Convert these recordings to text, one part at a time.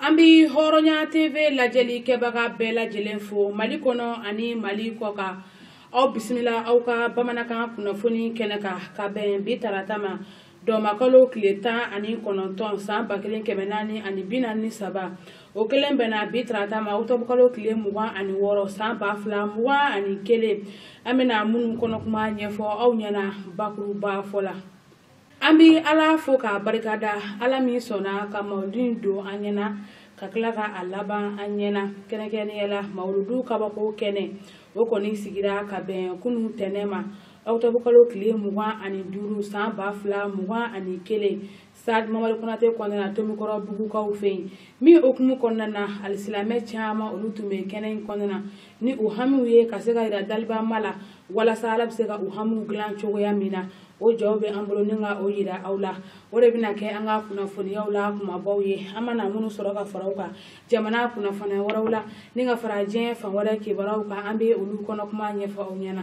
an bi hɔrɔnya tv lajɛli kɛbaga bɛɛ lajɛlen fo mali kɔnɔ ani mali kɔkan aw bisimila aw ka bamanankan kunnafoni kɛnɛ kan ka bɛn bi tarata ma dɔmakalo tile tan ani kɔnɔntɔn san ba kelen kɛmɛ naani ani bi naani ni saba o kelen bɛnna bi tarata ma otɔbukalo tile mugan ani wɔɔrɔ san ba fila mugan ani kelen an bɛna minnu kɔnɔkuma ɲɛfɔ aw ɲɛna bakuruba fɔ la an bɛ ala fo k'a barikada ala min sɔnna ka mawuludu in don an ɲɛna ka tila ka a laban an ɲɛna kɛrɛnkɛrɛnnenya la mawuludu kabako kɛnɛ o kɔni sigira ka bɛn kunun tɛnɛn ma otɔbukalo tile mugan ani duuru san ba fila mugan ani kelen sitadi mamadu konatɛ kɔnɔna na tomikɔrɔbugukaw fɛ yen min hukumu kɔnɔna na alisilamɛ caman olu tun bɛ kɛnɛ in kɔnɔna na ni u hami ye ka se ka jira dabama la walasa ala bɛ se ka u hami dilan cogoya min na o jaw bɛ an bolo ni ka o jira aw la o de bɛna kɛ an ka kunnafoniyaw la kumabaw ye an mana minnu sɔrɔ ka fara u kan jamana kunnafoniya wɛrɛw la ni ka fara diɲɛ fan wɛrɛ kibaruyaw kan an bɛ olu kɔnɔ kuma ɲɛfɔ aw ɲɛna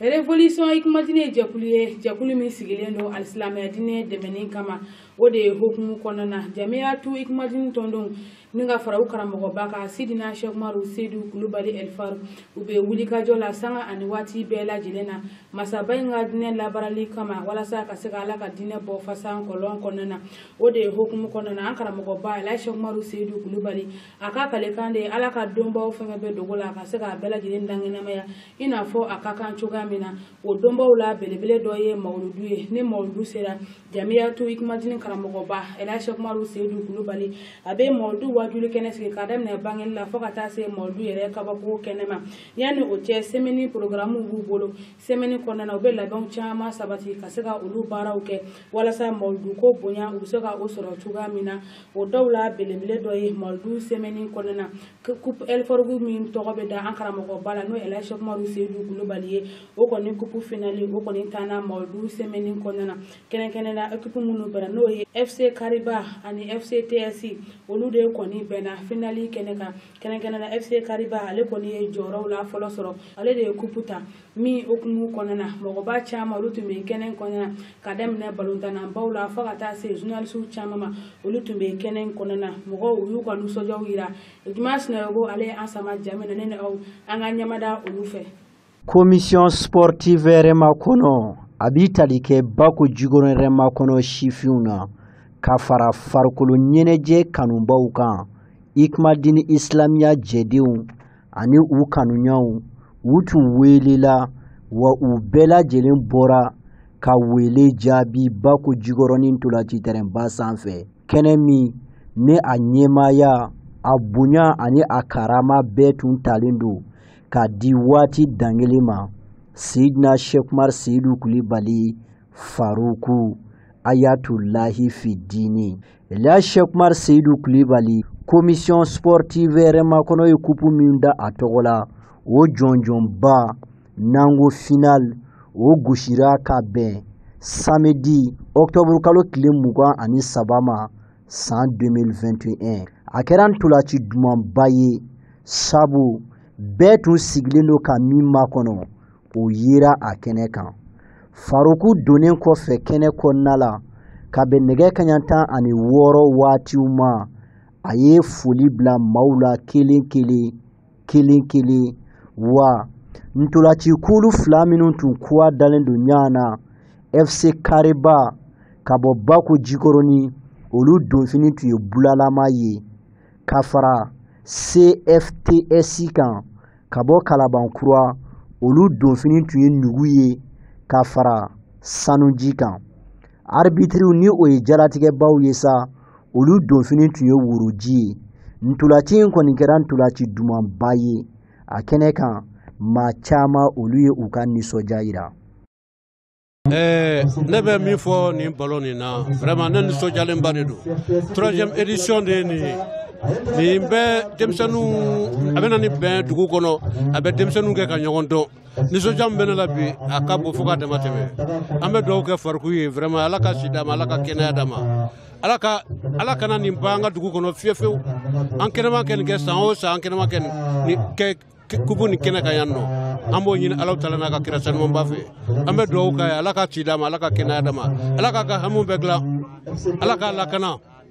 revolisɔn ikumatini ye jɛkulu ye jɛkulu min sigilen don alisilamɛya diinɛ dɛmɛni kama o de hukumu kɔnɔna na jamiyatu ikumatini tɔnden ni ka fara u karamɔgɔba kan sidina sɛki umaru seyidu kulubali ɛli faruku u bɛ wulikajɔ la sanga ani waati bɛɛ lajɛlen na masaba in ka diinɛ labaarali kama walasa ka se ka ala ka diinɛ bɔ fasan kɔlɔn kɔnɔna na o de hukumu kɔnɔna na an karamɔgɔba ɛli sɛki umaru seyidu kulubali a ka kalikan de ye ala ka donbaw fɛngɛ bɛ dogo la a ka se k'a bɛɛ lajɛlen dankɛnɛmaya i n'a fɔ a ka kan cogoya min na o donbaw la belebele dɔ ye mawuludu ye ni mawuludu sera jamiyatu ikumatini karamɔgɔba ɛli sɛki umaru seyidu kulubali a bɛ mawuludu wajuli kɛnɛ sigi ka daminɛ bangeli la fo ka taa se mawuludu yɛrɛ kabako kɛnɛ ma yanni o cɛ sɛmɛni porogaramuw b'u bolo sɛmɛni kɔnɔna na u bɛ labɛnw caman sabati ka se ka olu baaraw kɛ walasa mawuluduko bonya u bɛ se ka o sɔrɔ cogoya min na o dɔw la belebele dɔ ye mawuludu sɛmɛni kɔnɔna na kupu ɛli faruku min tɔgɔ bɛ da an karamɔgɔba la n'o ye ɛli sɛki umaru seyidu kulubali ye o kɔni kupu finali o kɔni tanna mawuludu sɛmɛni kɔnɔna na kɛrɛnkɛrɛn na ekipu minnu bɛnna n'o ye fc kariba ani fc tsi olu de kɔni bɛnna finali kɛnɛ kan kɛrɛnkɛrɛnna FC Kariba ale kɔni ye jɔyɔrɔw la fɔlɔ sɔrɔ ale de ye kupu ta min hukumu kɔnɔna na mɔgɔba caman olu tun bɛ kɛnɛ kɔnɔna na ka daminɛ balontannabaw la fo ka taa se journalisiw caman ma olu tun bɛ kɛnɛ kɔnɔna na mɔgɔw u y'u ka nisɔndiyaw jira Juma Sinayogo ale ye an sama ja min na ne ni aw an ka ɲɛmada olu fɛ Commission sportive hɛrɛmakɔnɔ a bi tali kɛ bako jikɔrɔ hɛrɛmakɔnɔ sifinw na ka fara farikolo ɲɛnajɛ kanubaw kan hikma dini isilamiya jɛdenw ani u kanuɲɔgɔnw u tun weelela wa u bɛɛ lajɛlen bɔra ka wele jaabi bako jikɔrɔni ntolaci tɛrɛnba sanfɛ kɛnɛ min ni a ɲɛmaaya a bonya ani a karama bɛɛ tun talen don k'a di waati dangelen ma sidina seku umar seyidu kulibali faruku ayatulahi fidini la seku umar seyidu kulibali komisiyɔn sportive hɛrɛmakɔnɔ ye kupu min da a tɔgɔ la o jɔnjɔnba n'an ko final o gosira ka bɛn samedi octobre kalo tile mugan ani saba ma san 2021 a kɛra ntolaci dumanba ye sabu bɛɛ tun sigilen don ka min makɔnɔ o yera a kɛnɛ kan faruku donnen kɔfɛ kɛnɛ kɔnɔna la ka bɛn nɛgɛ kaɲa tan ani wɔɔrɔ waatiw ma a ye foli bila maaw la kelen kelen kelen kelen wa ntolaci kulu fila minnu tun kɔgɔ dalen don ɲɔgɔn na fc kariba ka bɔ bako jikɔrɔni olu donfini tun ye bulalama ye ka fara cfts kan ka bɔ kalaban kura olu donfini tun ye nugu ye ka fara sanuji kan arbitriw ni o ye jalatigɛbaw ye sa olu donfini tun ye woroji ye ntolaci in kɔni kɛra ntolaci dumanba ye a kɛnɛ kan maa caman olu ye u ka nisɔndiya yira Eh, ne bɛ min fɔ nin ballon nin na vraiment ne nisɔndiyalenba de don troisième édition de ye nin ye nin bɛ denmisɛnninw a bɛ na ni bɛn dugu kɔnɔ a bɛ denmisɛnninw kɛ ka ɲɔgɔn dɔn nisɔndiya min bɛ ne la bi a ka bon fo ka dama tɛmɛ an bɛ dugawu kɛ faruku ye vraiment ala ka si d'a ma ala ka kɛnɛya d'a ma ala kana nin ban an ka dugu kɔnɔ fiyewu fiyewu an kɛnɛma ka nin kɛ san o san an kɛnɛma ka nin kɛ kupu nin kɛnɛ kan yan nɔ an b'o ɲini alahu taala n'a ka kira sanumanba fɛ an bɛ dugawu k'a ye ala ka si d'a ma ala ka kɛnɛya d'a ma ala k'a ka hamiw bɛɛ dilan ala k'a lakana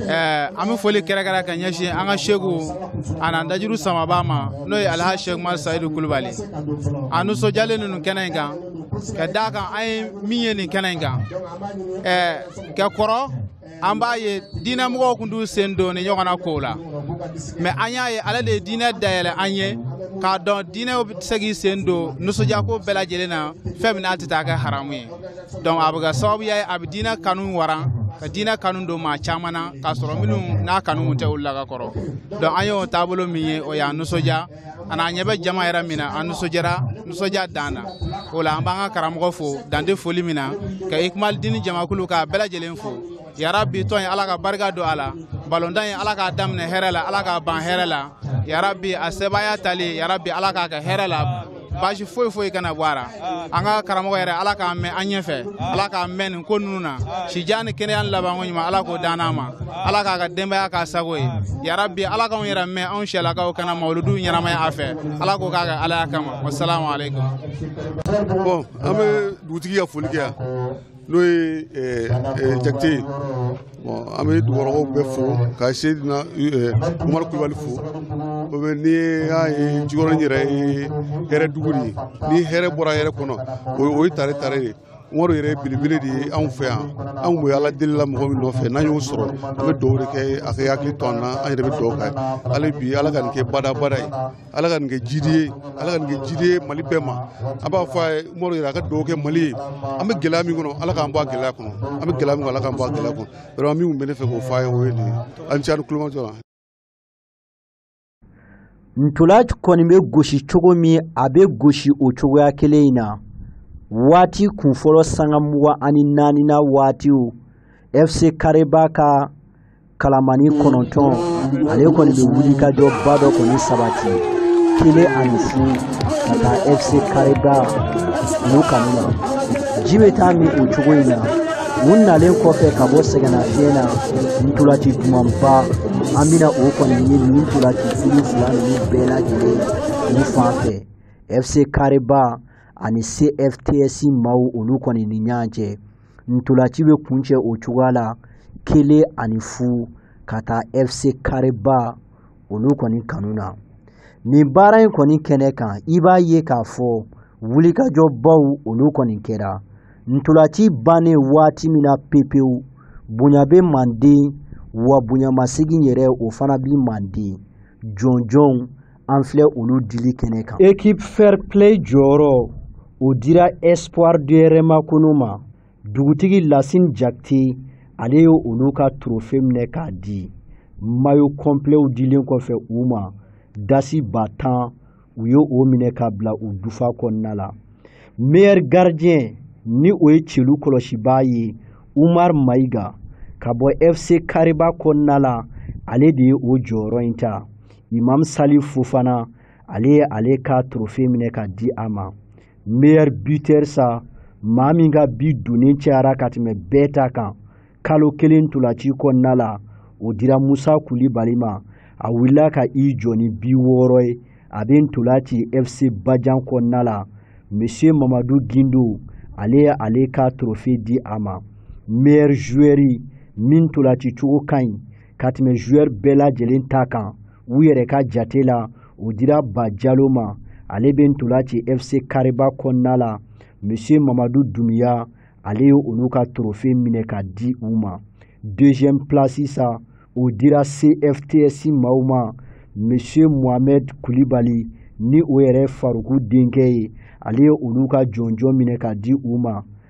Eh, an bɛ foli kɛrɛnkɛrɛn ka ɲɛsin an ka seku a n'an dajuru samaba ma n'o ye alhaji seku umaru sayidu kulubali an nisɔndiyalen don nin kɛnɛ in kan ka d'a kan an ye min ye nin kɛnɛ in kan eh, ka kɔrɔ an b'a ye diinɛ mɔgɔw tun t'u sen don nin ɲɔgɔnna kow la mais an y'a ye ale de ye diinɛ dayɛlɛ an ye k'a dɔn diinɛw bɛ se k'i sen don nisɔndiyako bɛɛ lajɛlen na fɛn min n'a tɛ taa kɛ haramu ye donc a bɛ kɛ sababuya ye a bɛ diinɛ kanu waran ka diinɛ kanu don maa caman na k'a sɔrɔ minnu n'a kanu tɛ olu la ka kɔrɔ donc an y'o taabolo min ye o y'an nisɔndiya ani an ɲɛ bɛ jama yɛrɛ min na an nisɔndiyara nisɔndiya dan na o la an b'an ka karamɔgɔ fo dan tɛ foli min na ka ikmal dini jamakulu k'a bɛɛ lajɛlen fo yarabi tɔn ye ala ka barika don a la balontan ye ala k'a daminɛ hɛrɛ la ala k'a ban hɛrɛ la yarabi a sebaaya tali yarabi ala k'a kɛ hɛrɛ la baasi foyi foyi kana bɔ a la an ka karamɔgɔ yɛrɛ ala k'a mɛn an ɲɛfɛ ala k'a mɛn nin ko ninnu na sijan ni kɛnɛya ni labanko ɲuman ala k'o dan an ma ala k'a ka denbaya k'a sago ye yarabi ala k'anw yɛrɛ mɛn anw sɛlakaw ka na mawuludu ɲɛnamaya a fɛ ala k'o k'a kɛ alaya kama wasalamu aleykum bon an bɛ dugutigi ka foli kɛ yan n'o ye eh, eh, jakite ye an bɛ dugukɔnɔmɔgɔw bɛɛ fo ka seyidina eh, umaru kulubali fo o bɛ n'i y'a ye jikɔrɔni yɛrɛ ye hɛrɛ dugu de ye ni hɛrɛ bɔra hɛrɛ kɔnɔ o ye tare tare de umaru yɛrɛ belebele de ye anw fɛ yan anw tun bɛ ala deli la mɔgɔ min nɔfɛ n'an y'o sɔrɔ an bɛ dugawu de kɛ a ka hakili to an na an yɛrɛ bɛ dugawu kɛ hali bi ala ka nin kɛ badabada ye ala ka nin kɛ jidi ye ala ka nin kɛ jidi ye mali bɛɛ ma an b'a fɔ a ye umaru yɛrɛ a ka dugawu kɛ mali ye an bɛ gɛlɛya min kɔnɔ ala k'an bɔ a gɛlɛya kɔnɔ an bɛ gɛlɛya min kɔnɔ ala k'an bɔ a gɛlɛya kɔnɔ yɔrɔ min tun bɛ ne fɛ k'o fɔ a ye o ye nin ye a ni ce a ni tulomajɔ la ntola kɔni bɛ gosi cogo min a bɛ gosi o cogoya kelen in na waati kunfɔlɔ sanga mugan ani naani na waatiw fc kareba ka kalamani kɔnɔntɔn ale kɔni bɛ wulikajɔba dɔ kɔni sabati kelen ani fu ka taa fc kareba olu kanu na ji bɛ taa min o cogo in na u nalen kɔfɛ ka bɔ sɛgɛnnafiɲɛ na ntolaci dumanba an bɛna o kɔni ye nin ntolaci kulu fila ninnu bɛɛ lajɛlen u fan fɛ fc kareba ani cfts maaw olu kɔni ni ɲɔgɔn cɛ Ntolaci bɛ kuncɛ o cogoya la kelen ani fu ka taa FC kareba olu kɔni kanu na nin baara in kɔni kɛnɛ kan i b'a ye k'a fɔ wulikajɔbaw olu kɔni kɛra ntolaci bannen waati min na pepewu bonya bɛ manden wa bonyamasegin yɛrɛ o fana bɛ manden jɔnjɔnw an filɛ olu dili kɛnɛ kan équipe fair play jɔyɔrɔ o dira espoir de hɛrɛmakɔnɔ ma dugutigi lasine jakite ale ye olu ka trofe minɛ k'a di mayo kɔnpilɛw dilen kɔfɛ u ma dasi ba tan u ye o minɛ ka bila u dufa kɔnɔna la meilleur gardien ni o ye celu kɔlɔsibaa ye umar mayiga ka bɔ fc kareba kɔnɔna la ale de ye o jɔyɔrɔ in ta imamu salifu fofana ale ye ale ka torofe minɛ ka a di a ma meilleur buteur sa maa min ka bi donnen cayara ka tɛmɛ bɛɛ ta kan kalo kelen ntolaci kɔnɔna la o dira musa kulibali ma a wulila ka i jɔ ni bi wɔɔrɔ ye a bɛ ntola ci fc bajan kɔnɔna la monsieur mamadu gindo ale ye ale ka torofe di a ma meilleur joueur min ntolaci cogo ka ɲi ka tɛmɛ joueur bɛɛ lajɛlen ta kan u yɛrɛ ka jate la o dira ba jalo ma ale bɛ ntola ci fc kariba kɔnɔna la monsieur mamadu dumiya ale ye olu ka torofe minɛ ka di u ma deuxième place sa o dira cfts maaw ma monsieur mohamed kulibali ni o yɛrɛ faruku denkɛ ye ale ye olu ka jɔnjɔn minɛ ka di u ma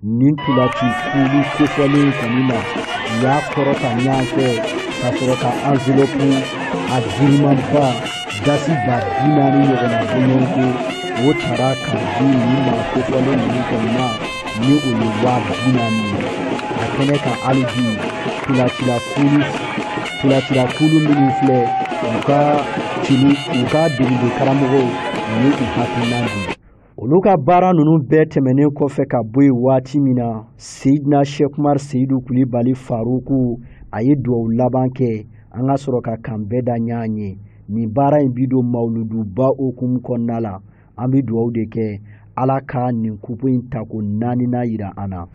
nin ntolaci kulu kofɔlen kɔni ma u y'a kɔrɔta ɲɔgɔn fɛ ka sɔrɔ ka anvelopu a girinmanba dasi ba bi naani ɲɔgɔnna bonyɔnko o tara ka di nin maa kofɔlen ninnu kɔni ma ni o ye waa bi naani ye a kɛnɛ kan hali bi ntolacila kulu minnu filɛ u ka degeden karamɔgɔw u ye u hakilinan di olu ka baara ninnu bɛɛ tɛmɛnen kɔfɛ ka bɔ yen waati min na seyidina sɛki umaru seyidu kulibali faruku a ye dugawu laban kɛ an ka sɔrɔ ka k'an bɛn da ɲɔgɔn ye nin baara in bi don mawuluduba okumu kɔnɔna la an bɛ dugawu de kɛ ala ka nin kupu in tako naaninan yira an na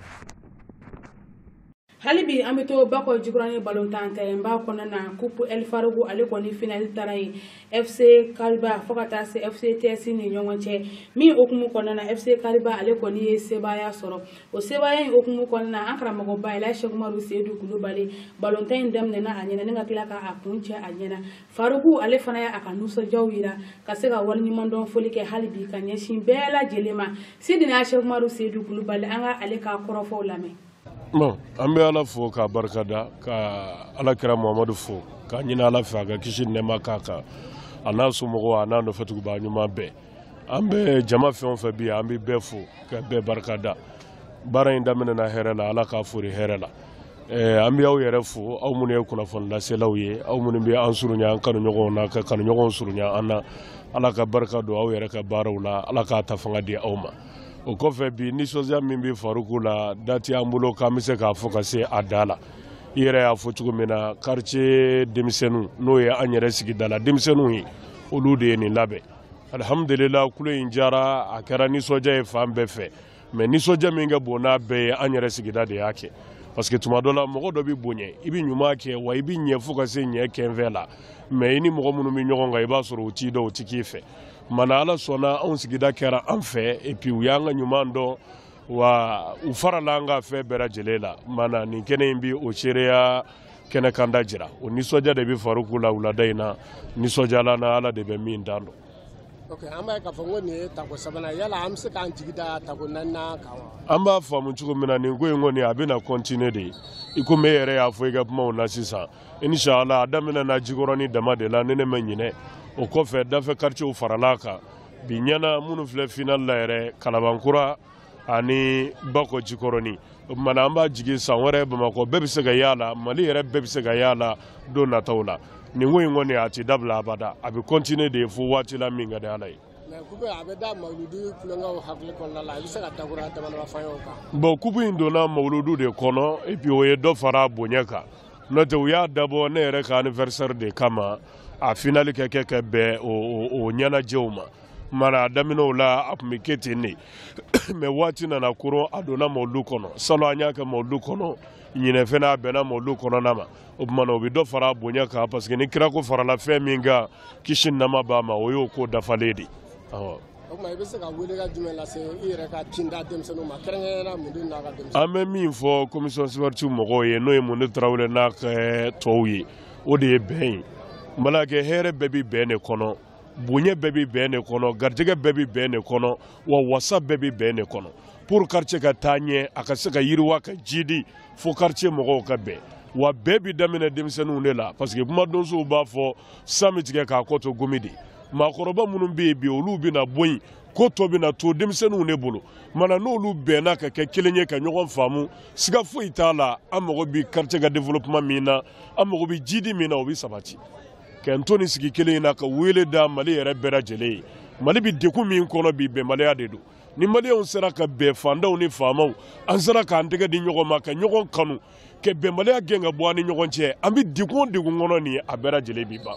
hali bi an bɛ to bakɔ jikɔrɔni balontan tɛrɛnba kɔnɔna na kupu el faruku ale kɔni finali taara yen fc kariba fo ka taa se fc ts ni ɲɔgɔn cɛ min okumu kɔnɔna na fc kariba ale kɔni ye sebaaya sɔrɔ o sebaaya in okumu kɔnɔna na an karamɔgɔba elaji sɛki umaru seyidu kulibali balontan in daminɛna a ɲɛ na ni ka tila ka a kuncɛ a ɲɛ na faruku ale fana ye a ka nisɔndiyaw yira ka se ka waleɲumandɔn foli kɛ hali bi ka ɲɛsin bɛɛ lajɛlen ma seyidina sɛki umaru seyidu kulibali an ka ale ka kɔrɔfɔw lamɛn bon an bɛ ala fo k'a barikada ka ala kira muhamadu fo k'a ɲini ala fɛ a ka kisi nɛɛma k'a kan a n'a somɔgɔw a n'a nɔfɛtugubaa ɲuman bɛɛ an bɛ jama fɛn o fɛn bi an bɛ bɛɛ fo ka bɛɛ barikada baara in daminɛna hɛrɛ la ala k'a foori hɛrɛ la eh, an bɛ aw yɛrɛ fo aw minnu ye kunnafoni laselaw ye aw minnu bɛ an surunya an kanuɲɔgɔnw na ka kanuɲɔgɔnw surunya an na ala ka barika don aw yɛrɛ ka baaraw la ala k'a ta fanga di aw ma o kɔfɛ bi nisɔndiya min bɛ faruku la da tɛ an bolo k'an bɛ se k'a fɔ ka se a da la i yɛrɛ y'a fɔ cogo min na quartier denmisɛnninw n'o ye an yɛrɛ sigida la denmisɛnninw ye olu de ye nin labɛn alihamudulila tulon in diyara a kɛra nisɔndiya ye fan bɛɛ fɛ mais nisɔndiya min ka bon n'a bɛɛ ye an yɛrɛ sigida de y'a kɛ parce que tuma dɔ la mɔgɔ dɔ bɛ bonya i bɛ ɲuman kɛ wa i bɛ ɲɛ fo ka se ɲɛ kɛnfɛ la mais i ni mɔgɔ minnu bɛ ɲɔgɔn kan i b'a sɔrɔ u t'i dɔn u tɛ k'i fɛ Mana ala sɔnna anw sigida kɛra an fɛ et puis u y'an ka ɲuman dɔn wa u farala an ka fɛn bɛɛ lajɛlen la mana nin kɛnɛ in bɛ o seereya kɛnɛ kanda jira o nisɔndiya de bɛ faruku la wulada in na nisɔndiyala na ala de bɛ min dan dɔn Okay, an b'a ye k'a fɔ ko nin ye tako sabanan yala an bɛ se k'an jigi da tako naaninan kan wa? An b'a faamu cogo min na nin ko in kɔni a bɛna continuer de i komi e yɛrɛ y'a fɔ i ka kumaw na sisan inshallah a daminɛna jikɔrɔni dama de la ni ne ma ɲinɛ o kɔfɛ dafɛ quartierw farala kan bi ɲɛna minnu filɛ final la yɛrɛ kalabankura ani bakɔ jikɔrɔni o tuma na an b'a jigi san wɛrɛ bamakɔ bɛɛ bɛ se ka y'a la mali yɛrɛ bɛɛ bɛ se ka y'a la don nataw la nin ko in kɔni a tɛ dabila abada a bɛ continuer de ye fo waati la min ka di ala ye bon coupe in donna mawuludu de kɔnɔ et puis o ye dɔ fara bonya kan n'o tɛ u y'a dabɔ ne yɛrɛ ka anniversaire de kama a finali ka kɛ ka bɛn o ɲɛnajɛw ma mana a daminɛw la a tun bɛ kɛ ten de mais waati nana koron a donna mawuludu kɔnɔ salon an y'a kɛ mawuludu kɔnɔ ɲinan fana a bɛnna mawuludu kɔnɔna ma o tuma na o bɛ dɔ fara a bonya kan parce que ni kira ko farala fɛn min kan kisi ni nɛɛma b'a ma o y'o ko dafalen de ye o tuma i bɛ se ka welekan jumɛn lase i yɛrɛ ka kinda denmisɛnninw ma kɛrɛnkɛrɛnnenya munde n'a ka denmisɛnninw. an bɛ min fɔ commission sportive mɔgɔw ye n'o ye munde tarawele n'a ka eh, tɔw ye o de ye bɛn ye malakɛ hɛrɛ bɛɛ bɛ bɛn de kɔnɔ bonya bɛɛ bɛ bɛn de kɔnɔ garijɛgɛ bɛɛ bɛ bɛn de kɔnɔ wa wasa bɛɛ bɛ bɛn de kɔnɔ pour quartier ka taa ɲɛ a ka se ka yiriwa ka jidi fo quartier mɔgɔw ka bɛn wa bɛɛ bɛ daminɛ denmisɛnninw de la parce que kumadonsow b'a fɔ san bɛ tigɛ k'a kɔ to gomi de maakɔrɔba minnu bɛ yen bi olu bɛna bɔ yen ko tɔ bɛna to denmisɛnninw de bolo mana n'olu bɛnna ka kɛ kelen ye ka ɲɔgɔn faamu siga foyi t'a la an mago bɛ quartier ka développement min na an mago bɛ jidi min na o bɛ sabati k'an to nin sigi kelen in na ka wele da mali yɛrɛ bɛɛ lajɛlen ye mali bɛ degun min kɔnɔ bi bɛnbaliya de don ni maliyɛnw sera ka bɛn faantanw ni faamaw an sera k'an tɛgɛ di ɲɔgɔn ma ka ɲɔgɔn kanu ka bɛnbaliya gɛn ka bɔ an ni ɲɔgɔn cɛ an bɛ degun o degun kɔnɔ nin ye a bɛɛ lajɛlen bi ban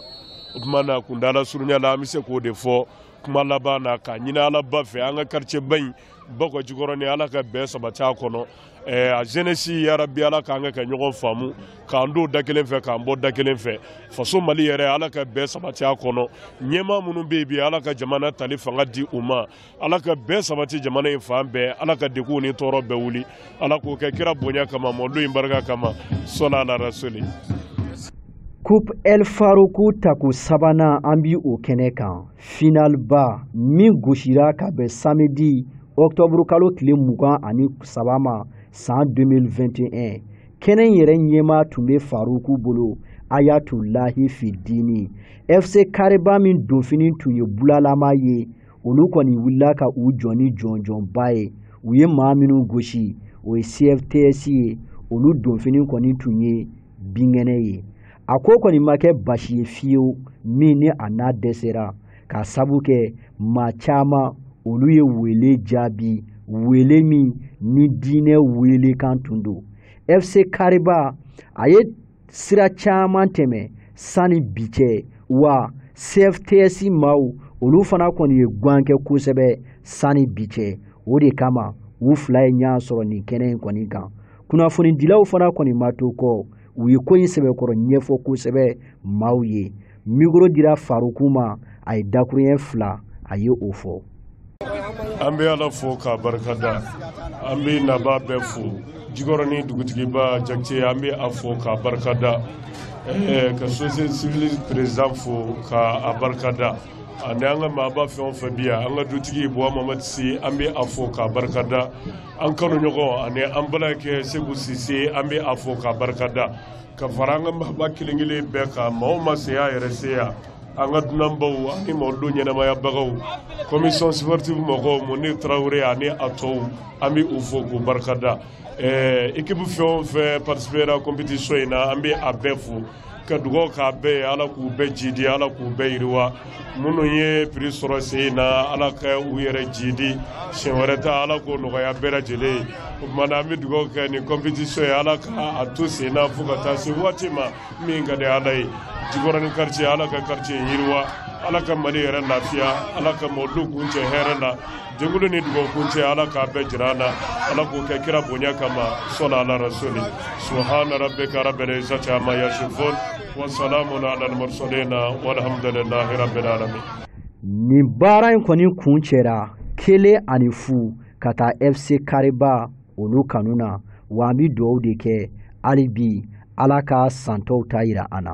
o tuma na kuntaala surunya la an bɛ se k'o de fɔ kuma laban na k'a ɲini ala ba fɛ an ka quartier ba in bakɔ jikɔrɔni ala ka bɛn sabati a kɔnɔ eh, a jeunesse yarabi ala k'an ka kɛ ɲɔgɔn faamu k'an don da kelen fɛ k'an bɔ da kelen fɛ faso mali yɛrɛ ala ka bɛn sabati a kɔnɔ ɲɛmaa minnu bɛ yen bi ala ka jamana tali fanga di u ma ala ka bɛɛ sabati jamana in fan bɛɛ ala ka deguw ni tɔɔrɔ bɛɛ wuli ala k'o kɛ kira bonya kama mɔlu in barika kama sɔla ala rasuli Coupe El Faroukou tako sabanan an bi o kɛnɛ kan finalba min gosira ka bɛn samedi octobre kalo tile mugan ani saba ma san 2021 kɛnɛ yɛrɛ ɲɛmaa tun bɛ farouku bolo ayatulahi fidini fc kariba min donfini tun ye bulalama ye olu kɔni wulila ka u jɔ ni jɔnjɔnba ye u ye maa minnu gosi o ye cfts ye olu donfini kɔni tun ye binkɛnɛ ye a ko kɔni ma kɛ basi ye fiyewu min ni a n'a dɛsɛra ka sabu kɛ maa caman olu ye wele jaabi wele min ni diinɛ welekan tun don fc kariba a ye sira caman tɛmɛ sanni bi cɛ wa cfts maaw olu fana kɔni ye gan kɛ kosɛbɛ sanni bi cɛ o de kama u fila ye ɲɔgɔn sɔrɔ nin kɛnɛ in kɔni kan kunnafonidilaw fana kɔni ma to kɔ u ye ko in sɛbɛkɔrɔ ɲɛfɔ kosɛbɛ maaw ye mikoro dira faroku ma a ye dakuruɲɛ fila a ye o fɔ an bɛ ala fo k'a barikada an bɛ nabaa bɛɛ fo jikɔrɔni dugutigiba jakite an bɛ a fo k'a barikada eh, ka société civile président fo k'a barikada ani an ka maaba fɛn o fɛn bi yan an ka dutigi buwa mamadi si an bɛ a fo k'a barikada an kanuɲɔgɔn ani an balimakɛ segu sise an bɛ a fo k'a barikada ka fara an ka maaba kelen kelen bɛɛ kan maa o maa sen y'a yɛrɛ se yan an ka dunanbaw ani maaw don ɲɛnamayabagaw commission sportive mɔgɔw muni tarawele ani a tɔw an bɛ u fo k'u barikada ɛɛ ekipu fɛn o fɛn participera competition in na an bɛ a bɛɛ fo ka dugawu k'a bɛɛ ye ala k'u bɛɛ jidi ala k'u bɛɛ yiriwa minnu ye piri sɔrɔ sen in na ala ka u yɛrɛ jidi siɲɛ wɛrɛ ta ala k'o nɔgɔya bɛɛ lajɛlen ye o tuma na an bɛ dugawu kɛ nin kɔnpitisiɔn ye ala ka a to sen na fo ka taa se waati ma min ka di ala ye jikɔrɔni quartier ala ka quartier yiriwa ala ka mali yɛrɛ lafiya ala ka mɔlu kuncɛ hɛrɛ la jɛkulu ni dugawu kuncɛ ala k'a bɛɛ jira an na ala k'o kɛ kira bonya kama sɔla ala rasuli subhana rabbika rabbil izzati amma yasifun nin baara in kɔni kuncɛra kelen ani fu ka taa fc kariba olu kanu na wa an bɛ dugawu de kɛ hali bi ala ka san tɔw ta yira an na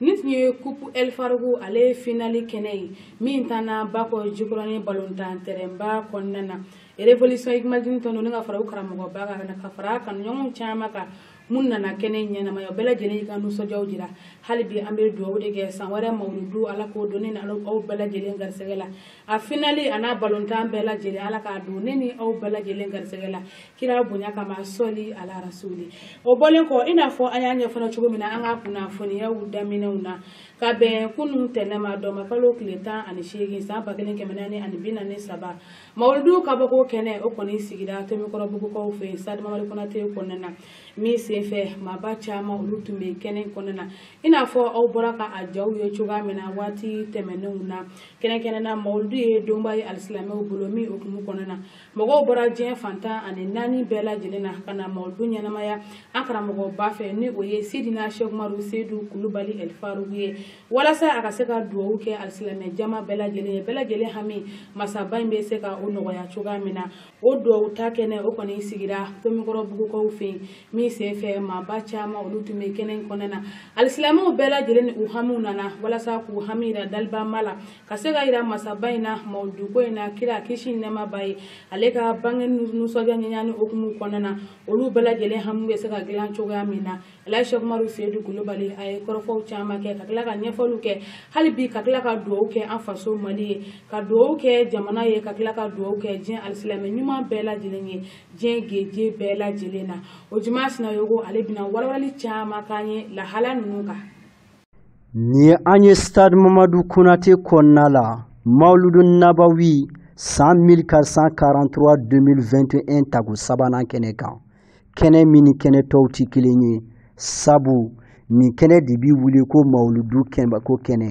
Nin tun ye kupu ɛlifarugu ale finali kɛnɛ ye min tanna bakɔ jikɔrɔnin balontan tɛrɛnba kɔnɔna na révolution hikumadini tɔn ni ka fara u karamɔgɔba kan ka fara kanuɲɔgɔn caman kan minnu nana kɛnɛ ɲɛnamaya bɛɛ lajɛlen ka nisɔndiya jira hali bi an bɛ dugawu de kɛ san wɛrɛ mawuludu ala k'o don ne ni aw bɛɛ lajɛlen garisɛgɛ la a finali a n'a balontan bɛɛ lajɛlen ala k'a don ne ni aw bɛɛ lajɛlen garisɛgɛ la kira bonya kama sɔli ala rasuli o bɔlen kɔ i n'a fɔ an y'a ɲɛfɔ cogo min na an ka kunnafoniyaw daminɛw na ka bɛn kunun tɛnɛn ma dɔmakalo tile tan ani seegin san ba kelen kɛmɛ naani ani bi naani saba mawuludu ka bɔko kɛnɛ o kɔni sigira tomikɔrɔbugukaw fɛ yen stadi mamadu konate kɔnɔna na min senfɛ maaba caman olu tun bɛ kɛnɛ kɔnɔna na i n'a fɔ aw bɔra ka a jaw ye cogoya min na waati tɛmɛnenw na kɛrɛnkɛrɛnna mawuludu ye donba ye alisilamɛw bolo min hukumu kɔnɔna na mɔgɔw bɔra diɲɛ fan tan ani naani bɛɛ lajɛlen na ka na mawulidu ɲɛnamaya an karamɔgɔba fɛ ni o ye sidina sɛki umaru seyidu kulubali ɛlifarugu ye walasa a ka se ka duwawu kɛ alisilamɛ jama bɛɛ lajɛlen ye bɛɛ lajɛlen hami masaba in bɛ se ka o nɔgɔya cogoya min na o duwawu ta kɛnɛ o kɔni sigira tomikɔrɔbugukaw fɛ yen min sen fɛ maaba caman olu tun bɛ kɛnɛ in kɔnɔna na alisilamɛw bɛɛ lajɛlen ni u hamiw nana walasa k'u hami yira dalibaama la ka se ka yira masaba in na mawuluduko in na kira kisi ni nɛɛma b'a ye ale ka bange nisɔndiya ɲɛɲini hukumu kɔnɔna na olu bɛɛ lajɛlen hami bɛ se ka dilan cogoya min na alaji sɛki umaru seyidu kulubali a ye kɔrɔfɔw caman kɛ ka tila ka ɲɛfɔliw kɛ hali bi ka tila ka duwawu kɛ an faso mali ye ka duwawu kɛ jamana ye ka tila ka duwawu kɛ diɲɛ alisilamɛ ɲuman bɛɛ lajɛlen ye diɲɛ geje bɛɛ lajɛlen na o juma sinayogo ale bɛna walawalali caman k'an ye lahala ninnu kan Nin ye an ye stadi mamadu konate kɔnɔna la maludu nabawi san mille quatre cent quarante-trois 2021 tago sabanan kɛnɛ kan kɛnɛ min ni kɛnɛ tɔw tɛ kelen ye sabu nin kɛnɛ de bɛ wuli ko mawuludu ko kɛnɛ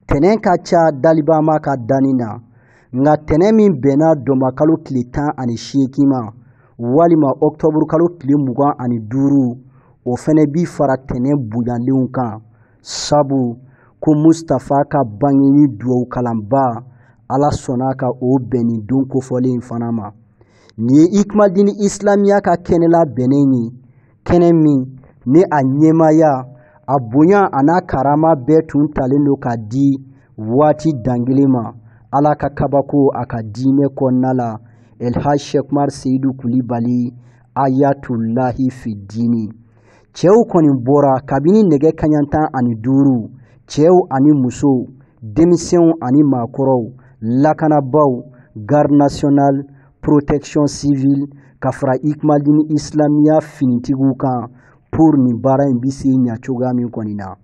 tɛnɛn ka ca dalibaama ka danni na nka tɛnɛn min bɛnna dɔnbakalo tile tan ani seegin ma walima ɔkutɔburukalo tile mugan ani duuru o fɛnɛ bi fara tɛnɛn bonyalenw kan sabu ko mustapha ka bangeni duwawu kalanba ala sɔnna ka o bɛn nin don kofɔlen in fana ma nin ye hikumadini isilamiya ka kɛnɛ labɛnnen ye kɛnɛ min ni a ɲɛmaaya a bonya a n'a karama bɛɛ tun talen don ka di waati dangelen ma ala ka kabako a ka diinɛ kɔnɔna la elhaj shek umar seyidu kulibali ayatulahi fidini cɛw kɔni bɔra kabini nɛgɛ kanɲɛ tan ani duuru cɛw ani musow denmisɛnw ani maakɔrɔw lakanabaaw garde nationale protection civile ka fara ikmadini isilamiya finitigiw kan pour nin baara in bɛ se ɲa cogoya min kɔni na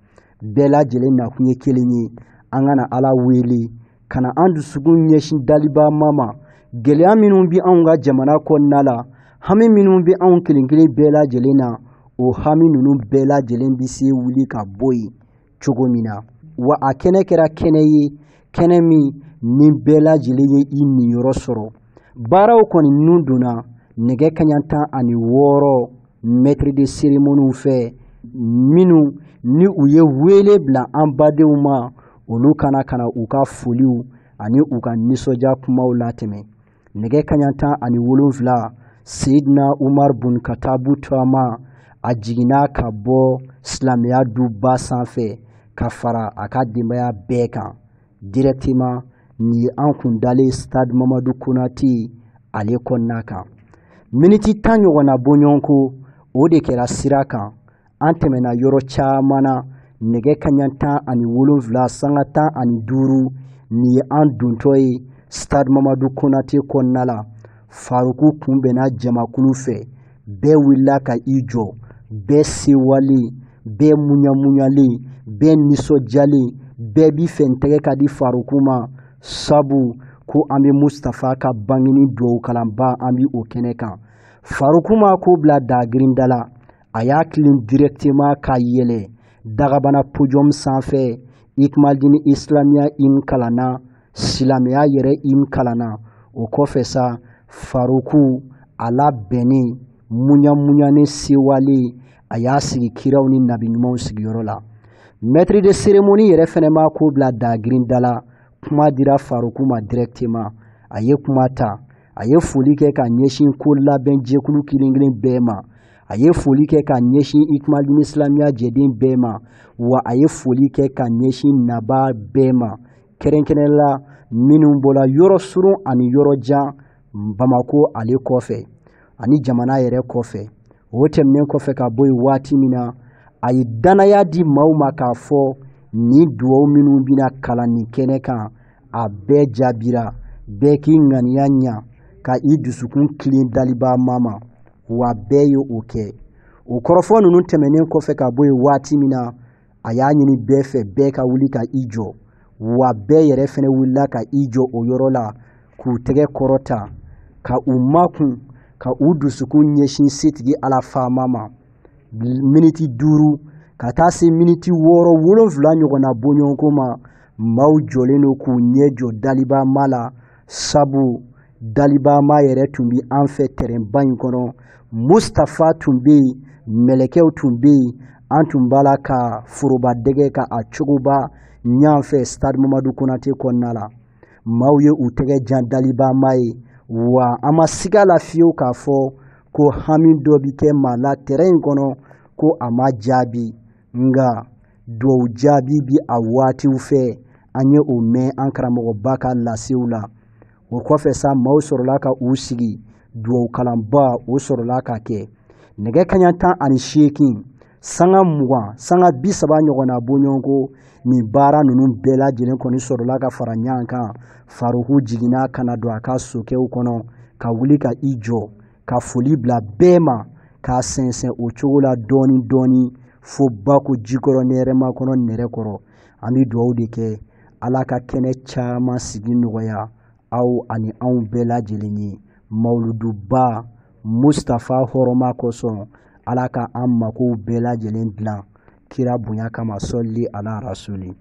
bɛɛ lajɛlen nakun ye kelen ye an ka na ala wele ka na an dusukun ɲɛsin daliba ma ma gɛlɛya minnu bɛ anw ka jamana kɔnɔna la hami minnu bɛ anw kelen kelen bɛɛ lajɛlen na o hami ninnu bɛɛ lajɛlen bɛ se wuli ka bɔ yen cogo min na wa a kɛnɛ kɛra kɛnɛ ye kɛnɛ min ni bɛɛ lajɛlen ye i niyɔrɔ sɔrɔ baaraw kɔni ninnu donna nɛgɛ kaɲa tan ani wɔɔrɔ maître de cérémoniew fɛ minnu ni u ye wele bila an badenw ma olu ka na ka na u ka foliw ani u ka nisɔndiya kumaw latɛmɛ nɛgɛ kaɲa tan ani wolonfila seidina umar bun katabu turama a jiginna ka bɔ silamɛya duba sanfɛ ka fara a ka denbaya bɛɛ kan directement nin ye an kun dalen stade mamadu konate ale kɔnɔna kan miniti tan ɲɔgɔnna bɔɲɔgɔnko o de kɛra sira kan an tɛmɛna yɔrɔ caman na nɛgɛ kaɲa tan ani wolonfila sanga tan ani duuru nin ye an dontɔ ye stade mamadu konate kɔnɔna la faruku kunbɛnna jamakulu fɛ bɛɛ wulila ka i jɔ bɛɛ sewalen bɛɛ muɲamuɲalen bɛɛ nisɔndiyalen bɛɛ b'i fɛ n tɛgɛ ka di faruku ma sabu ko an bɛ mustafa ka bangeni duwawu kalanba an bi o kɛnɛ kan faruku ma ko bila dagirinda la a y'a kilen directement ka yɛlɛ dagabana podium sanfɛ ikmadini isilamiya hymne kalanna silamɛya yɛrɛ hymne kalanna o kɔfɛ sa faruku a labɛnnen muɲamuɲanen sewalen a y'a sigi kiraw ni nabi ɲumanw sigiyɔrɔ la maître de cérémonie yɛrɛ fɛnɛ ma ko bila dagirinda la kuma dira faruku ma directement a ye kuma ta a ye foli kɛ ka ɲɛsin ko labɛn jɛkulu kelen-kelen bɛɛ ma a ye foli kɛ ka ɲɛsin ikmadini isilamiya jɛden bɛɛ ma wa a ye foli kɛ ka ɲɛsin naba bɛɛ ma kɛrɛnkɛrɛnnen la minnu bɔra yɔrɔ surun ani yɔrɔ jan bamakɔ ale kɔfɛ ani jamana yɛrɛ kɔfɛ o tɛmɛnen kɔfɛ ka bɔ yen waati min na a ye dannaya di maaw ma k'a fɔ nin duwaw minnu bɛna kalan nin kɛnɛ kan a bɛɛ jaabira bɛɛ k'i ŋaniya ɲa ka i dusukun kilen dalibaa ma ma wa bɛɛ ye o kɛ o kɔrɔfɔ ninnu tɛmɛnen kɔfɛ ka bɔ yen waati min na a y'a ɲini bɛɛ fɛ bɛɛ ka wuli ka i jɔ wa bɛɛ yɛrɛ fɛnɛ wulila ka i jɔ o yɔrɔ la k'u tɛgɛ kɔrɔta ka u makun ka u dusukun ɲɛsin setigi ala faama ma miniti duuru ka taa se miniti wɔɔrɔ wolonfila ɲɔgɔnna bɔɲɔgɔnko ma maaw jɔlen don k'u ɲɛ jɔ daliba ma la sabu dalibama yɛrɛ tun bɛ an fɛ tɛrɛnba in kɔnɔ mustafa tun bɛ yen mɛlɛkɛw tun bɛ yen an tun b'a la ka foroba dɛgɛ ka a cogoba ɲan fɛ stade mamadu konate kɔnɔna la maaw ye u tɛgɛ jan dalibama ye wa an ma siga la fiyewu k'a fɔ ko hami dɔ bɛ kɛ maa la tɛrɛn in kɔnɔ ko a ma jaabi nka duwawu jaabi bɛ a waatiw fɛ an ye o mɛn an karamɔgɔba ka lasew la o kɔfɛ sa maaw sɔrɔla ka u sigi duwawu kalanba o sɔrɔla ka kɛ nɛgɛ kaɲa tan ani seegin sanga mugan sanga bi saba ɲɔgɔnna bɔɲɔgɔnko nin baara ninnu bɛɛ lajɛlen kɔni sɔrɔla ka fara ɲɔgɔn kan faruku jiginna ka na don a ka sokɛw kɔnɔ ka wuli ka i jɔ ka foli bila bɛɛ ma k'a sɛnsɛn o cogo la dɔɔnin dɔɔnin fo bako jikɔrɔni hɛrɛmakɔnɔ nɛrɛkɔrɔ an bɛ dugawu de kɛ ala ka kɛnɛ caman sigi nɔgɔya aw ani anw bɛɛ lajɛlen ye mawuluduba mustafa hɔrɔma kosɔn ala ka an makow bɛɛ lajɛlen dilan kira bonya kama sɔli ala rasuli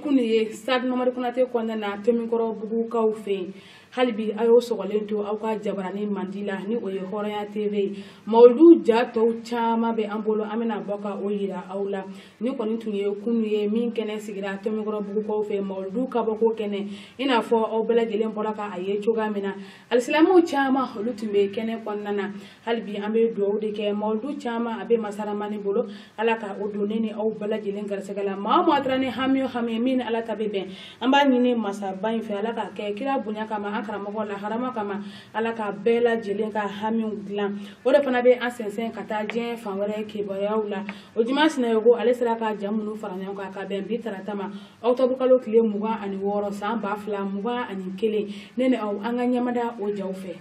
kunu ye stade mamadu konate kɔnɔna na tɔmikɔrɔbugukaw fɛ yen hali bi a y'aw sɔgɔlen to aw ka jabarani mandi la ni o ye hɔrɔnya tv ye mawulidu ja tɔw caman bɛ an bolo an bɛna bɔ ka o yira aw la nin kɔni tun ye kunu ye min kɛnɛ sigira tɔmikɔrɔbugukaw fɛ mawuludu kabɔko kɛnɛ i n'a fɔ aw bɛɛ lajɛlen bɔra ka a ye cogoya min na alisilamɛw caman olu tun bɛ kɛnɛ kɔnɔna na hali bi an bɛ dugawu de kɛ mawuludu caman a bɛ masa ramani bolo ala ka o don ne ni aw bɛɛ lajɛlen garisɛgɛ la maa o maa taara ni hami o hami min ni ala ta bɛ bɛn an b'a ɲini masaba in fɛ ala k'a kɛ kira bonya kama an karamɔgɔ laharama kama ala ka bɛɛ lajɛlen ka hamiw dilan o de fana bɛ an sɛnsɛn ka taa diɲɛ fan wɛrɛ kibaruyaw la ojuma sinayoko ale sera ka ja minnu fara ɲɔgɔn kan ka bɛn bi tarata ma ɔkutɔbu kalo tile mugan ani wɔɔrɔ san ba fila mugan ani kelen ne ni aw an ka ɲɛmada o jaw fɛ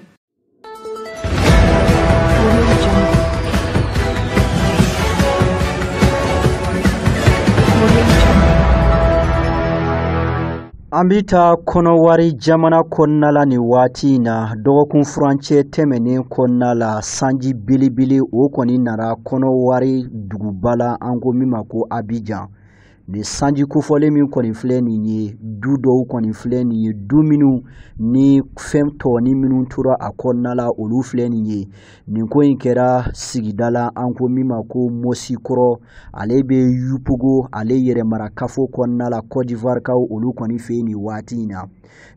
An bɛ taa kɔnɔwari jamana kɔnɔna la nin waati in na dɔgɔkun furancɛ tɛmɛnen kɔnɔna la sanji belebele o kɔni nana kɔnɔwari duguba la an ko min ma ko Abijan nin sanji kofɔlen min kɔni filɛ nin ye du dɔw kɔni filɛ nin ye du minnu ni fɛn tɔɔni minnu tora a kɔnɔna la olu filɛ nin ye nin ko in kɛra sigida la an ko min ma ko mosikɔrɔ ale bɛ yupogo ale yɛrɛmarakafo kɔnɔna la kɔdivarikaw olu kɔni fɛ yen nin waati in na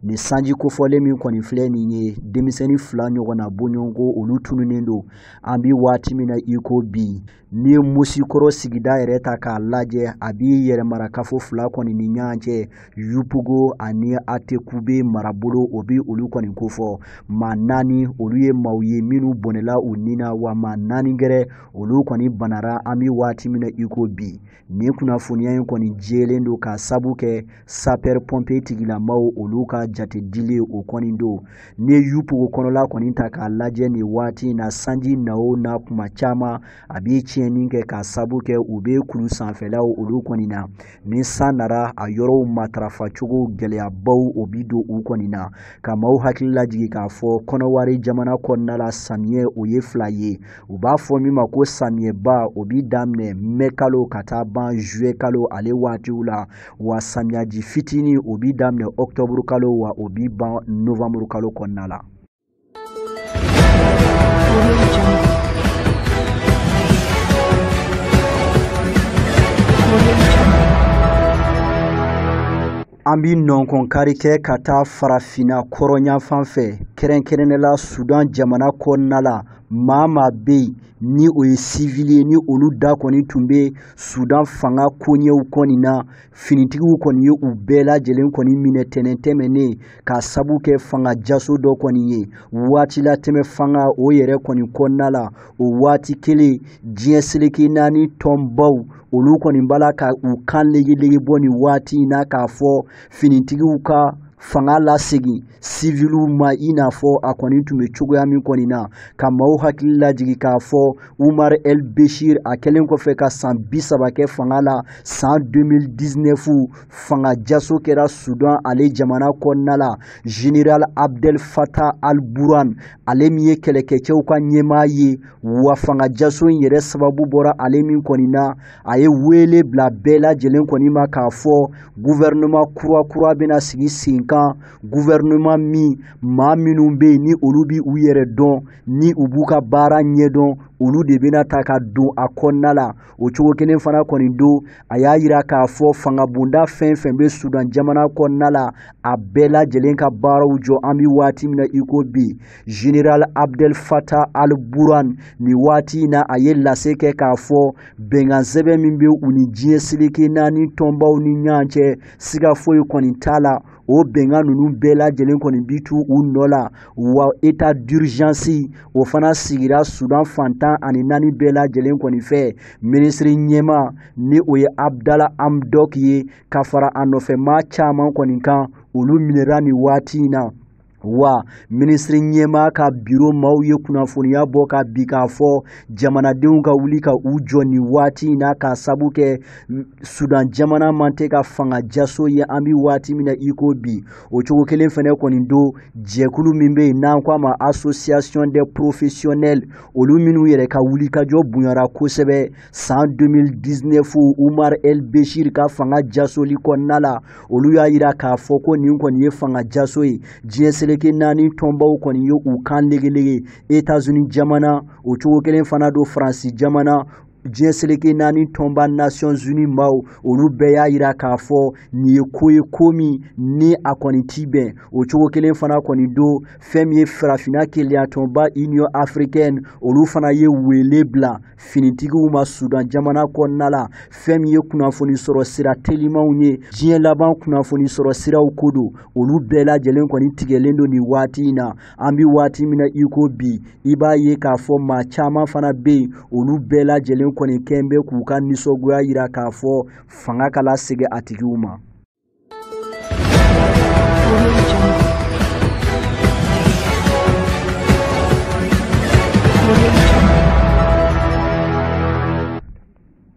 nin sanji kofɔlen min kɔni filɛ nin ye denmisɛnnin fila ɲɔgɔnna bɔɲɔgɔnko olu tununnen don an bɛ waati min na i ko bi n'i ye mosikɔrɔ sigida yɛrɛ ta k'a lajɛ a bi yɛrɛmarakafo fila kɔni ni ɲɔgɔn cɛ yupogo ani atekube marabolo o bɛ olu kɔni kofɔ maa naani olu ye maaw ye minnu bɔnɛla u ni na wa maa naani gɛrɛ olu kɔni banara an bɛ waati min na i ko bi nin kunnafoniya in kɔni jɛlen don ka sabu kɛ sapɛr pɔnpe tigilamaw olu ka jate dilen o kɔni don n'i ye yupogo kɔnɔla kɔni ta k'a lajɛ nin waati in na sanji na o na kuma caman a bi tiɲɛni kɛ ka sabu kɛ u bɛ kulu sanfɛlaw olu kɔni na ni san nara a yɔrɔw matarafa cogo gɛlɛyabaw o bi don u kɔni na ka maaw hakili lajigi k'a fɔ kɔnɔwari jamana kɔnɔna la samiyɛ o ye fila ye u b'a fɔ min ma ko samiyɛba o bi daminɛ mɛ kalo ka taa ban zuye kalo ale waatiw la wa samiyaji fitini o bi daminɛ ɔktɔburu kalo wa o bi ban novanburu kalo kɔnɔna la An bɛ nɔnkɔn kari kɛ ka taa farafinna kɔrɔnyanfan fɛ kɛrɛnkɛrɛnnen la sudan jamana kɔnɔna la maa maa bɛ yen ni o ye sivili ye ni olu da kɔni tun bɛ sudan fanga koɲɛw kɔni na finitigiw kɔni ye u bɛɛ lajɛlen kɔni minɛ tɛnɛn tɛmɛnen ka sabu kɛ fanga jaso dɔ kɔni ye waati latɛmɛ fanga o yɛrɛ kɔni kɔnɔna la o waati kelen diɲɛ seleke naani tɔnbaw olu kɔni b'a la ka u kan legelege bɔ nin waati in na k'a fɔ finitigiw ka fanga lasegin siviliw ma i n'a fɔ a kɔni tun bɛ cogoya min kɔni na ka maaw hakili lajigi k'a fɔ umar el beshir a kɛlen kɔfɛ ka san bi saba kɛ fanga la san 2019 fanga jaso kɛra sudan ale jamana kɔnɔna la general abdel fatah al burhan ale min ye kɛlɛkɛcɛw ka ɲɛmaa ye wa fangajaso in yɛrɛ sababu bɔra ale min kɔni na a ye wele bila bɛɛ lajɛlen kɔni ma k'a fɔ guvɛrɛnɛman kura kura bɛna sigi sen kan guvɛrɛnɛman min maa minnu bɛ yen ni olu bi u yɛrɛ dɔn ni u b'u ka baara ɲɛdɔn olu de bɛna ta ka don a kɔnɔna la o cogo kelen fana kɔni don a y'a yira k'a fɔ fangabonda fɛn fɛn bɛ sudan jamana kɔnɔna la a bɛɛ lajɛlen ka baaraw jɔ an bɛ waati min na i ko bi General Abdel Fattah al-Burhan nin waati in na a ye lase kɛ k'a fɔ bɛnkan sɛbɛn min bɛ u ni diɲɛ seleke naani tɔnbaw ni ɲɔgɔn cɛ siga foyi kɔni t'a la o bɛnkan ninnu bɛɛ lajɛlen kɔni bi tu u nɔ la wa état d'urgence o fana sigira Sudan fan tan ani naani bɛɛ lajɛlen kɔni fɛ minisiri ɲɛmaa ni o ye Abdalla Hamdok ye ka fara a nɔfɛ maa caman kɔni kan olu minɛra nin waati in na wa minisiri ɲɛmaa ka biro maaw ye kunnafoniya bɔ ka bi k'a fɔ jamanadenw ka wuli ka u jɔ nin waati in na k'a sabu kɛ sudan jamana man tɛ ka fanga jaso ye an bɛ waati min na i ko bi o cogo kelen fana kɔni don jɛkulu min bɛ yen n'an ko a ma association des professionnels olu minnu yɛrɛ ka wulikajɔ bonyara kosɛbɛ san 2019 umar el beshir ka fanga jasoli kɔnɔna la olu y'a yira k'a fɔ ko nin kɔni ye fanga jaso ye diɲɛ seleke naani tɔnbaw kɔni ye u kan legelege etazuni jamana o cogo kelen fana don faransi jamana diɲɛ seleke naani tɔnba nations unies maaw olu bɛɛ y'a yira k'a fɔ nin ye ko ye ko min ni a kɔni ti bɛn o cogo kelen fana kɔni don fɛn min ye farafinna kelenyatɔnba union africaine olu fana ye wele bila finitigiw ma sudan jamana kɔnɔna la fɛn min ye kunnafoni sɔrɔ sira telimanw ye diɲɛ laban kunnafoni sɔrɔ siraw ko don olu bɛɛ lajɛlen kɔni tigɛlen don nin waati in na an bi waati min na i ko bi i b'a ye k'a fɔ maa caman fana bɛ yen olu bɛɛ lajɛlen kɔni kɛn bɛ k'u ka nisɔngoya yira k'a fɔ fanga ka lasegin a tigiw ma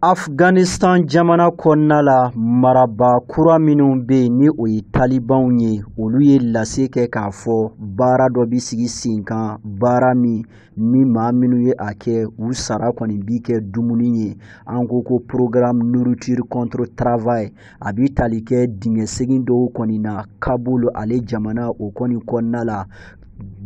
Afghanistan jamana kɔnɔna la marabaa kura minnu bɛ yen ni o ye talibanw ye olu ye lase kɛ k'a fɔ baara dɔ bi sigi sen kan baara min ni maa minnu ye a kɛ u sara kɔni bi kɛ dumuni ye an ko ko programme nourriture contre travail a bɛ tali kɛ dingɛ segin dɔw kɔni na kabul ale jamana o kɔni kɔnɔna la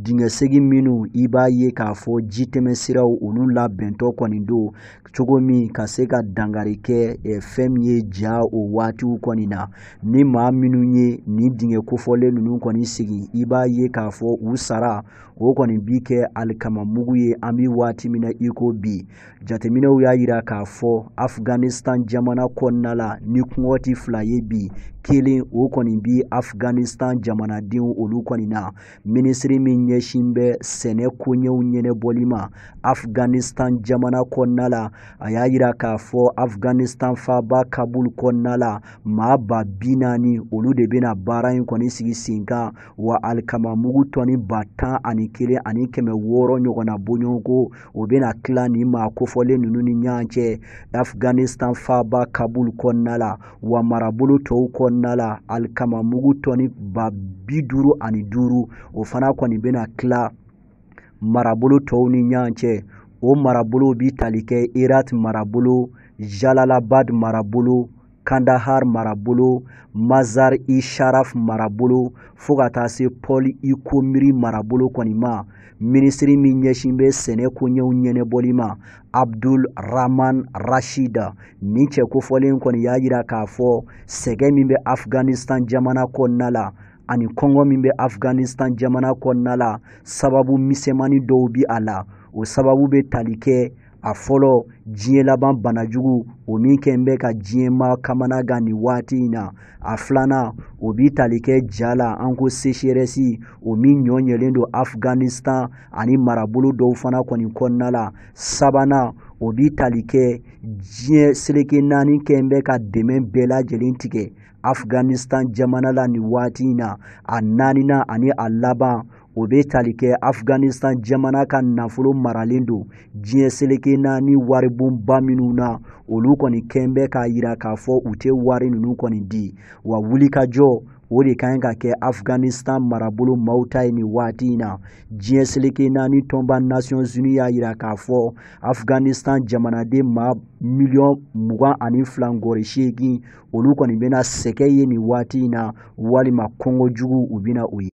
dingɛ segin minnu i b'a ye k'a fɔ ji tɛmɛ siraw olu labɛntɔ kɔni don cogo min ka se ka dankari kɛ fɛn min ye ja o waatiw kɔni na ni maa minnu ye nin dingɛ kofɔlen ninnu kɔni segin i b'a ye k'a fɔ u sara o kɔni bi kɛ alikama mugu ye an bi waati min na i ko bi jateminɛw y'a yira k'a fɔ afghanistan jamana kɔnɔna la ni kɔngɔti fila ye bi kelen o kɔni bi afghanistan jamanadenw olu kɔni na minisiri min ɲɛsin bɛ sɛnɛ koɲɛw ɲɛnabɔli ma afghanistan jamana kɔnɔna la a y'a yira k'a fɔ afghanistan faaba kabul kɔnɔna la maa ba bi naani olu de bɛna baara in kɔni sigi sen kan wa alikamamugu tɔni ba tan ani kelen ani kɛmɛ wɔɔrɔ ɲɔgɔnna bɔɲɔgɔnko o bɛna tila nin maa kofɔlen ninnu ni ɲɔgɔn cɛ afghanistan faaba kabul kɔnɔna la wa marabolo tɔw kɔnɔna la alikamamugu tɔni ba bi duuru ani duuru o fana kɔni bɛna tila marabolo tɔw ni ɲɔgɔn cɛ o marabolo bi tali kɛ herat marabolo jalalabad marabolo Kandahar marabolo Mazar i Sharaf marabolo fo ka taa se Pol i Khomri marabolo kɔni ma minisiri min ɲɛsin bɛ sɛnɛ koɲɛw ɲɛnabɔli ma Abdul Rahman Rashid nin cɛ kofɔlen kɔni y'a yira k'a fɔ sɛgɛ min bɛ Afghanistan jamana kɔnɔna la ani kɔngɔ min bɛ Afghanistan jamana kɔnɔna la sababu misɛnmani dɔw bi a la o sababu bɛ tali kɛ a fɔlɔ diɲɛ laban banajugu o min kɛn bɛ ka diɲɛ maa kamanagan nin waati in na a filanan o bi tali kɛ ja la an ko sécheresse o min ɲɔ ɲɛlen don afghanistan ani marabolo dɔw fana kɔni kɔnɔna la sabanan o bi tali kɛ diɲɛ seleke naani kɛn bɛ ka dɛmɛ bɛɛ lajɛlen tigɛ afghanistan jamana la nin waati in na a naaninan ani a laban o bɛ tali kɛ afghanistan jamana ka nafolo maralen don diɲɛ seleke naani waribonba minnu na olu kɔni kɛn bɛ k'a yira k'a fɔ u tɛ wari ninnu kɔni di wa wulikajɔ o de ka ɲi ka kɛ afghanistan marabolo maaw ta ye nin waati in na diɲɛ seleke naani tɔnba nations unies y'a yira k'a fɔ afghanistan jamanaden maa miliyɔn mugan ani fila ngɔri seegin olu kɔni bɛna sɛgɛ ye nin waati in na walima kɔngɔ jugu u bɛna o ye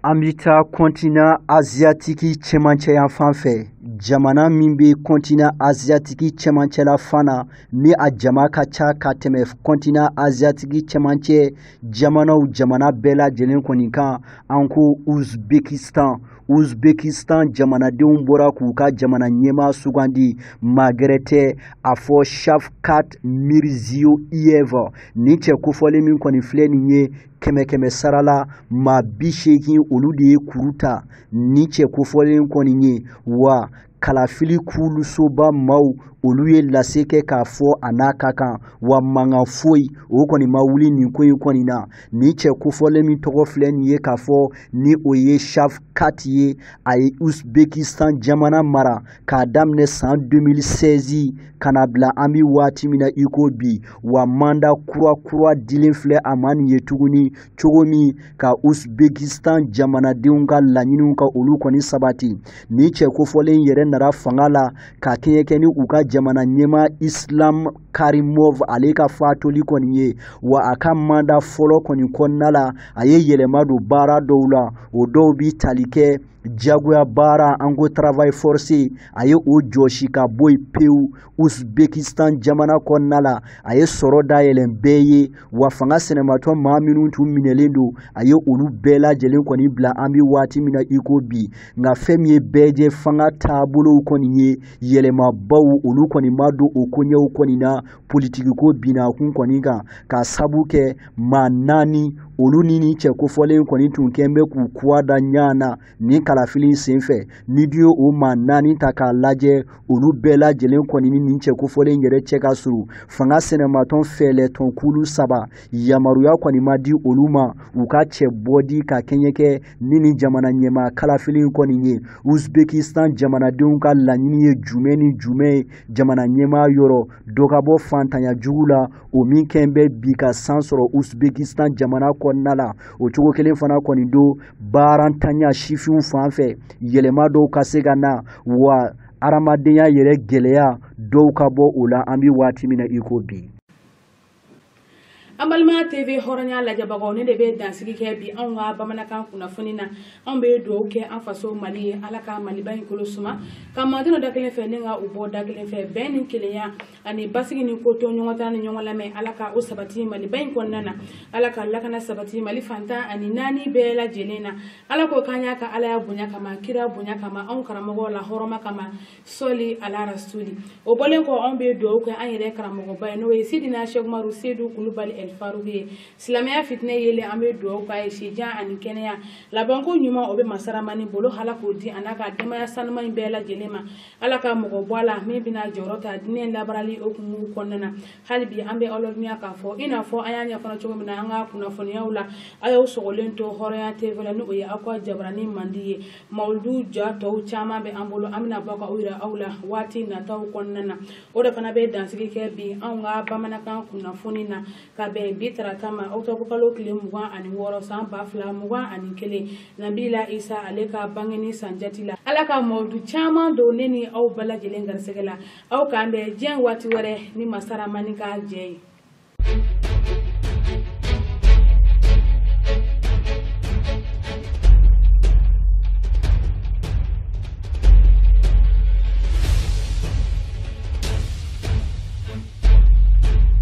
an bɛ taa kɔntina aziyatiki cɛmancɛ yanfan fɛ jamana min bɛ kɔntina aziyatiki cɛmancɛ la fana ni a jama ka ca ka tɛmɛ kɔntina aziyatiki cɛmancɛ jamanaw jamana bɛɛ lajɛlen kɔni kan an ko uzbekistan uzbekistan jamanadenw bɔra k'u ka jamana ɲɛmaa sugandi maa gɛrɛ tɛ a fɔ shavkat mirziyoyev nin cɛ kofɔlen min kɔni filɛ nin ye kɛmɛ kɛmɛ sara la maa bi seegin olu de ye kuru ta nin cɛ kofɔlen kɔni ye wa kalafili kulusoba maaw olu ye lase kɛ k'a fɔ a n'a ka kan wa mankan foyi o kɔni ma wuli nin ko in kɔni na nin cɛ kofɔlen min tɔgɔ filɛ nin ye k'a fɔ ni o ye shavkat ye a ye uzbekistan jamana mara k'a daminɛ san 2016 ka na bila an bi waati min na i ko bi wa manda kura kura dilen filɛ a ma nin ye tuguni cogo min ka uzbekistan jamanadenw ka laɲiniw ka olu kɔni sabati nin cɛ kofɔlen yɛrɛ nara fanga la ka kɛɲɛ kɛ ni u ka jamana ɲɛmaa islam karimov ale ka fatuli kɔni ye wa a ka manda fɔlɔ kɔni kɔnɔna la a ye yɛlɛma don baara dɔw la o dɔw bi tali kɛ jagoya baara an ko travail forcé a ye o jɔsi ka bɔ yen pewu uzbekistan jamana kɔnɔna la a ye sɔrɔ dayɛlɛn bɛɛ ye wa fanga sinamatɔn maa minnu tun minɛlen don a ye olu bɛɛ lajɛlen kɔni bila an bɛ waati min na i ko bi nka fɛn min ye bɛɛ jɛ fanga taabolow kɔni ye yɛlɛmabaw olu kɔni ma don o koɲɛw kɔni na politikiko binakun kɔni kan k'a sabu kɛ maa naani olu ni nin cɛ kofɔlen kɔni tun kɛn bɛ k'u kɔgɔ da ɲɔgɔn na nin kalafili in senfɛ n'i dun ye o maa naani ta k'a lajɛ olu bɛɛ lajɛlen kɔni ni nin cɛ kofɔlen in yɛrɛ cɛ ka surun fanga sinamatɔn fɛɛrɛtɔn kulu saba yamaruya kɔni ma di olu ma u ka cɛbɔ di ka kɛɲɛ kɛ ni nin jamana ɲɛmaa kalafili in kɔni ye uzbekistan jamanadenw ka laɲini ye jumɛn ni jumɛn ye jamana ɲɛmaa yɔrɔ dɔ ka bɔ fantanya jugu la o min kɛn bɛ bi ka san sɔrɔ uzbekistan jamana kɔnɔna la o cogo kelen fana kɔni don baarantanya sifinw fan fɛ yɛlɛma dɔw ka se ka na wa adamadenya yɛrɛ gɛlɛya dɔw ka bɔ o la an bɛ waati min na i ko bi an balima tv hɔrɔnya lajɛbagaw nin de bɛ dansigi kɛ bi anw ka bamanankan kunnafoni na anw bɛ dugawu kɛ an faso mali ye ala ka maliba in kolo suma ka malidenw don da kelen fɛ ni ka u bɔ da kelen fɛ bɛn ni kelenya ani basigi ni ko to ɲɔgɔn ta ni ɲɔgɔn lamɛn ala ka o sabati maliba in kɔnɔna na ala ka lakana sabati mali fan tan ani naani bɛɛ lajɛlen na ala k'o k'an y'a ka alaya bonya kama kira bonya kama anw karamɔgɔ lahɔrɔma kama sɔli ala rasuli o bɔlen kɔ anw bɛ dugawu kɛ an yɛrɛ karamɔgɔba ye n'o ye sidina sɛku umaru sedu kulubali ɛlifaruku ye silamɛya fitinɛ yelen an bɛ dugawu k'a ye sijan ani kɛnɛya labanko ɲuman o bɛ masa ramani bolo ala k'o di a n'a ka denbaya sanuma in bɛɛ lajɛlen ma ala ka mɔgɔ bɔ a la min bɛna jɔyɔrɔ ta diinɛ labaarali hukumu kɔnɔna na hali bi an bɛ aw ladɔnniya k'a fɔ i n'a fɔ an y'a ɲɛfɔ cogo min na an ka kunnafoniyaw la a y'aw sɔgɔlen to hɔrɔnya tv la ni o ye aw ka jabaranin mandi ye mawuludu ja tɔw caman bɛ an bolo an bɛna bɔ ka u yira aw la waati nataw kɔnɔna na o de fana bɛ dansigi kɛ bi anw ka bamanankan kunnafoni na ka bɛn bi tarata ma ɔkutɔbukalo tile mugan ani wɔɔrɔ san ba fila mugan ani kelen nabila isa ale ka bangeni san jati la ala ka mawuludu caman don ne ni aw bɛɛ lajɛlen garisɛgɛ la aw k'an bɛn diɲɛ waati wɛrɛ ni masa ramani ka jɛn ye